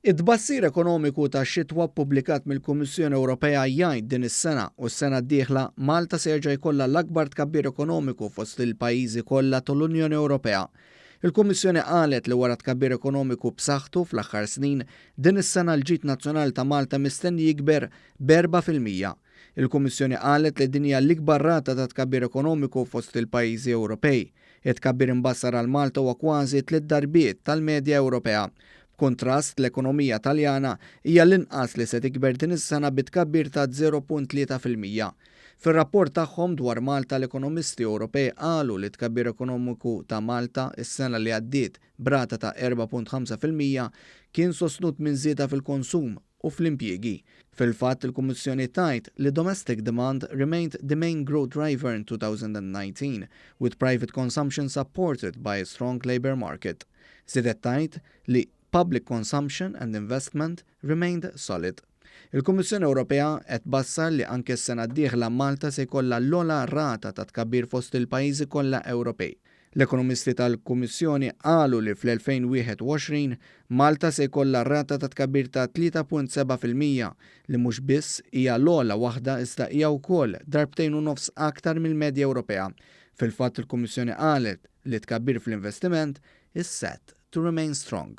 It-tbassir ekonomiku tax-xitwa ppubblikat mill-Kummissjoni Ewropea jgħid din is-sena u s-sena d-dieħla Malta se jerġa' jkollha l-akbar tkabbir ekonomiku fost il-pajjiżi kollha tal-Unjoni Ewropea. Il-Kummissjoni qalet li wara tkabbir ekonomiku b'saħħtu fl-aħħar snin, din is-sena l-ġid nazzjonali ta' Malta mistenni jikber b'erbgħa fil-mija. Il-Kummissjoni qalet li din hija l-ikbar rata ta' tkabbir ekonomiku fost il-pajjiżi Ewropej. It-tkabbir imbassar għal Malta huwa kważi tliet darbiet tal-medja Ewropea. B'kuntrast, l-ekonomija Taljana hija l-inqas li se tikber din is-sena bi tkabbir ta' 0.3 fil-mija. Fir-rapport tagħhom dwar Malta l-ekonomisti Ewropej qalu li t-tkabbir ekonomiku ta' Malta s-sena li għaddiet, b'rata ta' erba' punt ħamsa fil-mija, kien sostnut minn żieda fil-konsum u fl-impjiegi. Fil-fatt, il-Kummissjoni tgħid li domestic demand remained the main growth driver in 2019, with private consumption supported by a strong labour market. Żiedet tgħid li public consumption and investment remained solid. Il-Kummissjoni Ewropea qed tbassar li anke s-sena d-dieħla Malta se jkollha l-ogħla rata ta' tkabbir fost il-pajjiżi kollha Ewropej. L-ekonomisti tal-Kummissjoni qalu li fl-2021, Malta se jkollha rata ta' tkabbir ta' 3.7 fil-mija, li mhux biss hija l-ogħla waħda iżda hija wkoll darbtejn u nofs aktar mill-medja Ewropea. Fil-fatt il-Kummissjoni qalet li t-tkabbir fl-investiment is set to remain strong.